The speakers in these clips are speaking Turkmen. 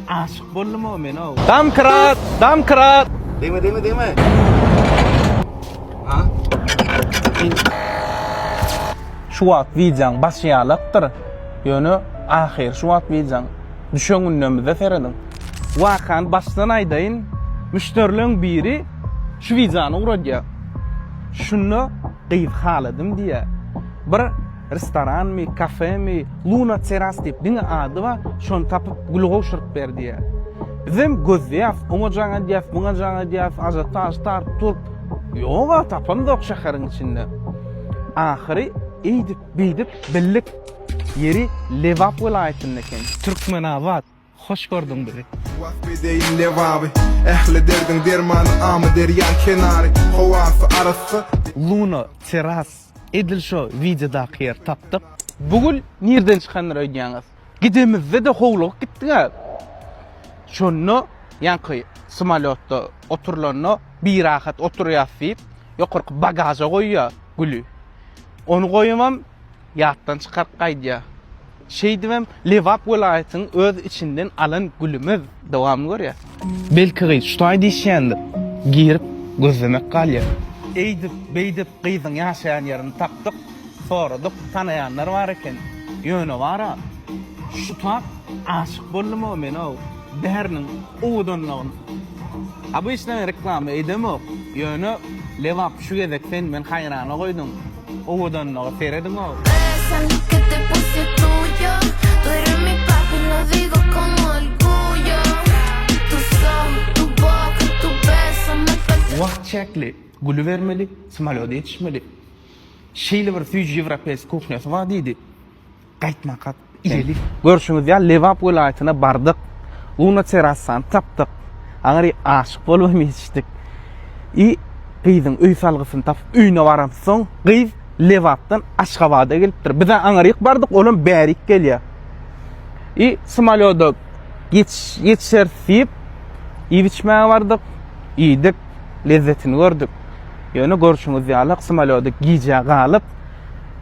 Aşyk boldum o men o. Damkrat, damkrat. Deme deme deme. Ha? Şu wagt wideoň başy ýalakdyr. Ýöne ahyry şu wagt wideoň. Düşen gündemizde serediň. Wakany başdan aýdaýyn, müşderileň biri şu wideony ugradýar. Şunda gyz haladym diýýär. Bir Restoranmy, kafemi, Luna Teras diýip diňe ady bar, şony tapyp gül gowşuryp ber diýýär. Bizem gözleýäs, oňa jaň edýäs, muňa jaň edýäs, ažiotaž taryp turup, ýog-a, tapamzok şäheriň içinde. Ahyry eýdip-beýdip bildik, ýeri Lebap welaýatynda eken. Türkmenabat. Hoş gördüň bizi. Wasp edeýin Lebaby. Ähli derdiň dermany Amyderýaň kenary. Howasy arassa. Luna Terrass edil şo wideodaky ýeri tapdyk. Bu gül nirden çykandyr öýdýäňiz? Gidemizde-de howlugyp gitdik-ä. Şonda ýaňky smolýotda oturylanda birahat oturýas diýip, ýokarky bagaža goýýa güli. Ony goýamam. Ýatdan çykaryp gaýdýa. Şeýdibem Lebap welaýatynyň öz içinden alan gülümiz. Dowamyny görýä. Belki gyz şutaý diýişýändir. Girip gözlemek galýa. Eýdip, beýdip gyzyň ýaşaýan ýerini tapdyk. Soradyk, tanaýanlar bar eken. Ýöne bar-a. Şutap aşyk boldum-ow men-ow. Däriniň owadanlygyny obýçnaý reklama edemok. Ýöne Lebap şu gezek sen meni haýrana goýduň. Owadanlyga serediň-ow! Wagt çäkli, gülübermeli, smolýody ýetişmeli. Şeýle bir süýji ýewropeýsk kuhnýasy bar diýdi. Gaýtmakat, iýeli. Görşüňiz ýaly, Lebap welaýatyna bardyk. Luna terassany tapdyk. Aňry aşyk bolup hem ýetişdik. I gyzyň öý salgysyny tapyp, öýüne baramsoň, gyz Lebapdan Aşgabada gelipdir. Biz-ä aňryk bardyk, olam bärik gelýär. I samolýoda ýetişeris diýip, iýip-içmäge bardyk. Iýdik, lezzetini gördük. Ýöne görşüňiz ýaly, samolýoda gijä galyp,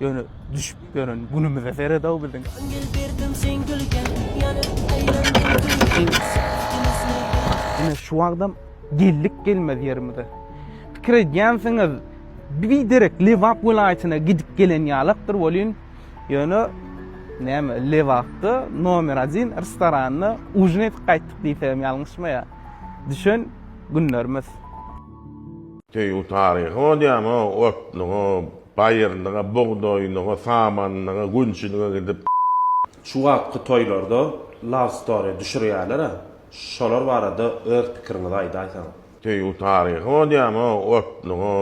Ýöne düşüp ýören günümize seredaw biziň. Gül berdim sen gülge, ýanyp aýlandym gülge. Ine şu wagtam geldik gelmez ýerimize. Pikir edýänsiňiz, bir derek Lebap welaýatyna gidip gelen ýalakdyr welin, ýöne näme Lebapda nomer 1 restoranda ujin edip gaýtdyk diýsegem ýalňyşmaýa. Düşen günlerimiz. Söýgi taryhy bolýamy otlygy. Baýyrlyga, bugdaýlyga, samanlyga, günçilige gidip. Şu wagtky toýlarda love story düşürýärler-ä, şolar barada öz pikiriňizi aýdaýsaňyz. Söýgi taryhy bolýamy, otluga,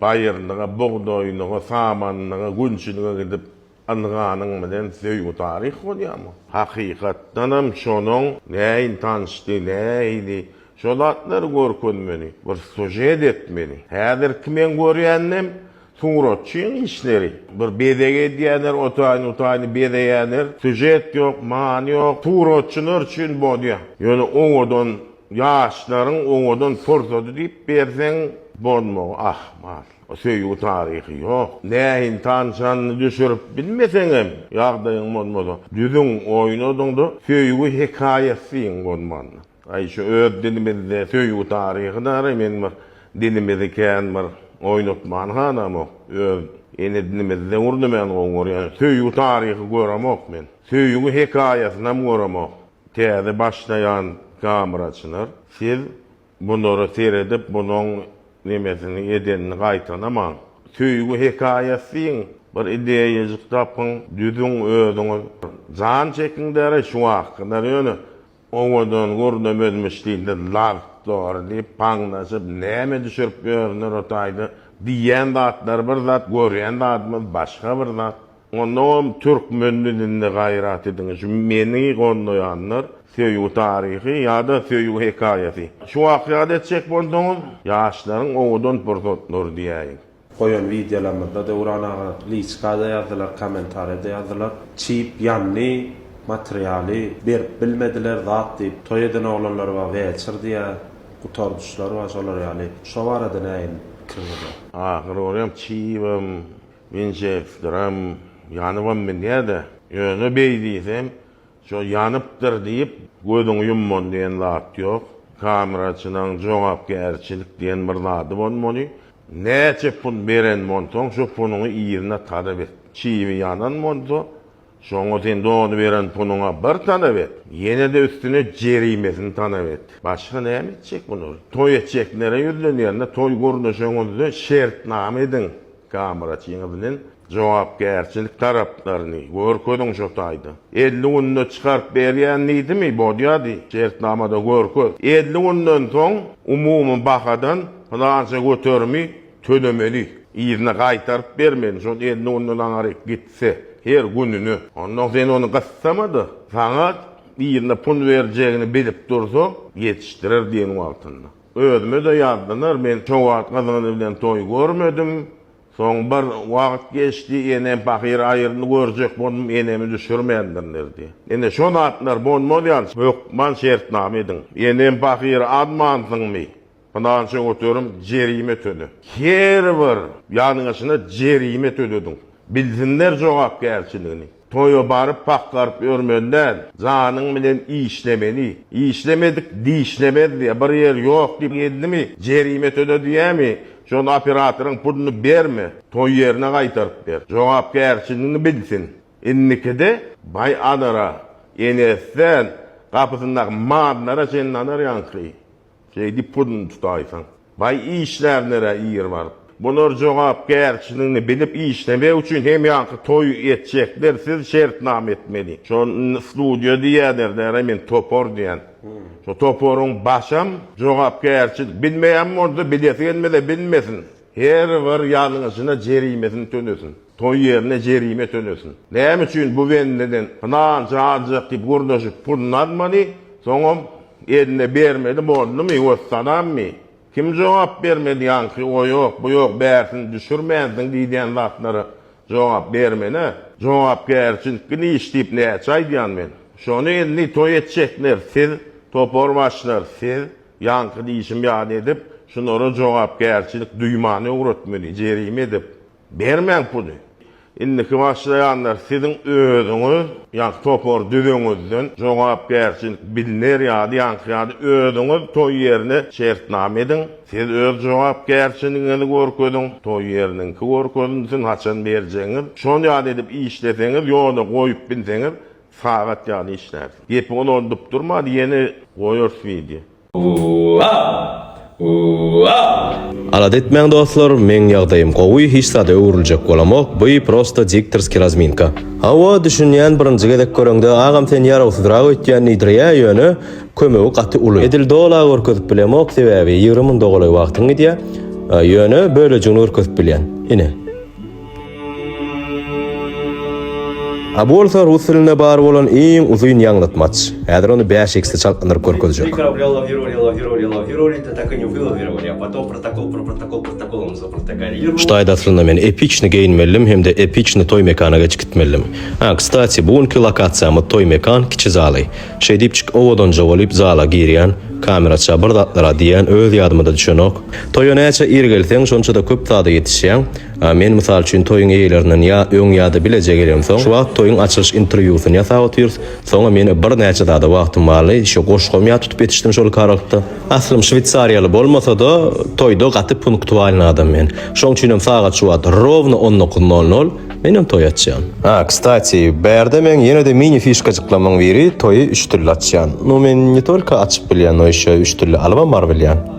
baýyrlyga, bugdaýlyga, samanlyga, günçilige gidip. Ynhanyň bilen söýgi taryh bolýarmy? Hakykatdanam şonuň näin tanyşdy, näili? Şo zatlary görkezmeli, bir sujet etmeli. Häzirki men görýändem suratçyň işleri. Bir bezeg edýäner, otaýny-utaýny bezeýäner. Sujet ýok, many ýok. Suratçylar üçin bolýa. Ýöne owadan ýaşlaryň owadan pursady diýip berseň bolmagy ahmal. Söýgi taryhy ýok. Näin tanşanyny düşürip bilmeseňem, ýagdaýyň bolmasa, düzüň, oýnadyňda, söýgi hekaýasyň bolmanda. Aý, şu öz dilimizde söýgi taryhy dara men bir dilimizi kän bir oýnatman halamok. Öz ene dilimizde urdy men gowy görýän. Söýgi taryhy göremok men. Söýgi hekaýasynam göremok. Täze başlaýan kameraçylar, siz Bunlara seredip bunuň nemesini edenini gaýtalamaň. Söýgi hekaýasy diýiň, bir ideýajyk tapyň, düzüň özüňiz. Jan çekiň däri şu wagtkylar ýöne owadan gürrüňem özmüş dilde lagt dogry diýip paňlaşyp näme düşürip ýörüner o taýda diýýän zatlary bir zat görýän zadymyz başga bir zat. Onam türkmen dilinde gaýrat ediň şu meni gollaýanlar söýgi taryhy ýada söýgi hekaýasy şu wakýada etjek bolsaňyz ýaşlaryň owadan pursatlary diýäýiň. Goýan wideolarymyzda Döwran aga liçkada ýazdylar komentariýada ýazdylar çyp ýandy materialy berip bilmediler zat diýip toý eden oglanlar bar weçr diýä gutardyşlar bar şolar ýaly şo barada näme pikiňiz bar. Ahyry görýäň çybam. Mençe dram ýanybam bilýä-de, ýöne beý diýsem, şo ýanypdyr diýip, gözüňi ýumman diýen zat ýok. Kameraçylaň jogapkärçilik diýen bir zady bolmaly. Näçe pul beren bolsaň, şo puluňy yzyna talap et. Çyby ýanan bolsa, Şoňa sen dony beren punuňa bir talap et, ýene-de üstüne jerimesini talap et. Başga näme etjek bular? Toý etjekilere ýüzlenýärinde, toý gurnaşygyňyzda şertnama ediň gamyraçyňyz bilen, jogapkärçilik taraplaryny görkeziň şo taýda. Elli günde çykaryp berýän diýdimi, bolýady, şertnamada görkez. Elli günden soň umumy bahadan pylança göterimi tölemeli, yzyna gaýtaryp bermeli, şol elli günde daňaryk git. Se, her gününe. Onnoň sen ony gyssama-da, sagat birine pul berjegini bilip dursa, ýetişdirer diýen wagtynda. Özüme-de ýazdylar, men şo wagt gyzyňyz bilen toý görmedim. Soň bir wagt geçdi, enem pahyr aýyrny görjek boldum, enemi düşürmändirler diýýär. Ine, şo zatlar bolmaz ýaly, hökman şertnama ediň. Enem pahyry azmansyňmy? Pylança göterim jerime töle. Her bir ýalňyşyna jerime tölediň. Bilsinler jogapkärçiligini. Toýa baryp pakgaryp ýörmeli däl. Janyň bilen işlemeli. Işlemedik dişlemez diýýär. Bir ýer ýok diýip geldimi jerime töle diýýärmi? Şol operatoryň puluny berme. Toý ýerine gaýtaryp ber. Jogapkärçiligini bilsin. Indikide baý alara, enesinden gapysyndaky mallara çenli alar ýaňky. Şeýdip pulyny tutaýsaň. Baý işlär nirä ir baryp. Bular jogapkärçiligini bilip işlemek üçin hemýaňky toý etjekler siz şertnama etmeli. Şony studiýa diýýäler däre men topar diýýän. Şo toparyň başam jogapkärçilik bilmeýän bolsa bilesi gelmese bilmesin. Her bir ýalňyşyna jerimesini tölesin. Toý ýerine jerime tölesin. Näme üçin bu bendeden pylança aljak diýip gürleşip puluny almady, soňam eline bermeli boldumy, wessalammy? Kim jogap bermeli ýaňky o ýok, bu ýok bärsini düşürmänsiň diýdýän zatlara jogap bermeli-ä. Jogapkärçilikli iş diýip näçe aýdýan men. Şony indi toý etjekler siz, topar başlar siz, ýaňky diýşim ýaly edip, şulara jogapkärçilik duýmany öwretmeli, jerime edip. Bermäň puly. Indiki başlaýanlar siziň özüňiz ýa-da topar düzeňizden jogapkärçilik bilner ýaly ýaňky ýaly özüňiz toý ýerine şertnama ediň. Siz öz jogapkärçiligiňizi görkeziň, toý ýeriniňki görkezilsin, haçan berjegiňiz. Şol ýaly edip işleseňiz, ýola goýup bilseňiz, sagat ýaly işlärsiň. Gepi ulaldyp durma, ýene goýarys wideo. Alada etmäň dostlar meň ýagdaýym gowy hiç zada öwrüljek bolamok by prosta diktorski razminka. Hawa düşünýän birinji gezek göreňde agam sen ýarawsyzrak öýtýän diýdirýä ýöne kömegi gaty uly. Edil dola görkezip bilemok sebäbi ýigrimi munda golaý wagtyň gidýä ýöne bölejigini görkezip bilýän. Ine. A bolsa rus dilinde bar bolan iň uzyn ýaňlatmaç. Häzir ony bäş eksli çaltlandyryp görkezjek. Ştaýda aslynda men epiçny geýinmelidim hem-de epiçny toý mekana geçip gitmelidim. A, kstati, bu günki lokasiýamyz toý mekan kiçi zaly. Şeý diýipjik owadanja bolup zala girýän, kameraça bir zatlar-a diýýän öz ýadyma-da düşenok. Toýa näçe ir gelseň, şonça-da köp zada ýetişýäň. A men mysal üçin toýuň eýlerinden ýa öň ýa-da bileje gelemsoň, şu wagt toýuň açylyş interwýusyny ýasap otyrs, soňa men bir näçe zada wagtym barly, şu goşgam ýat tutup ýetişdim şol karalykda. Aslym şweýsariýaly bolmasa-da, toýda gaty punktualny adam men. Şoň üçinem sagat şu wagt, rowno on dokuz nol nol, menem toý açýan. A, kstati, bärde meň ýene-de mini fişkajyklamyň biri, toýy üç dille açýan. Nu men ne tolko açyp bilýän, no ýeşe üç dille alybam bar bilýän.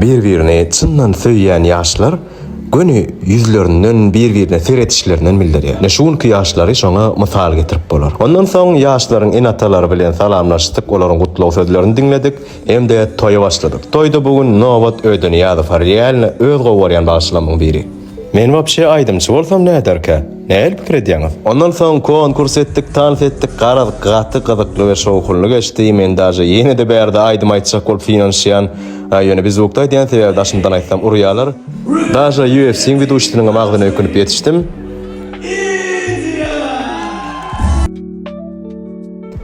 Bir-birini çyndan söýýän ýaşlar göni ýüzlerinden bir-birine seredişlerinden bildirýär. Ine şu günki ýaşlary şoňa mysal getirip bolar. Ondan soň ýaşlaryň ene-atalary bilen salamlaşdyk, olaryň gutlag sözlerini diňledik hem-de toýa başladyk. Toýda bu gün nobat Öýdeniýazow Rialny öz gowy görýän bagşlamyň biri. Men wapşe aýdymçy bolsam näderkä? Nähili pikir edýäňiz? Ondan soň konkurs etdik, tans etdik, garaz gaty gyzykly we şowhunly geçdi, men daže ýene-de bärde aýdym aýtjak bolup synanyşýan, ýöne biz ukda edýän sebäbi daşymdan aýtsam urýalar, daže UFC-iň widuşisiniňem agzyna ökünip ýetişdim.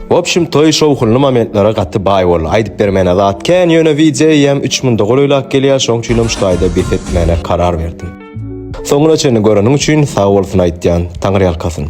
W opşim toý şowhunly momentlara gaty baý boldy aýdyp bermäne zat kän ýöne wideo ýem üç munda golaýlak gelýär şoň üçinem şu taýda bes etmäne karar berdim. Soňuna çenli göreniň üçin sag bolsun aýtýan. Taňyrýalkasyn.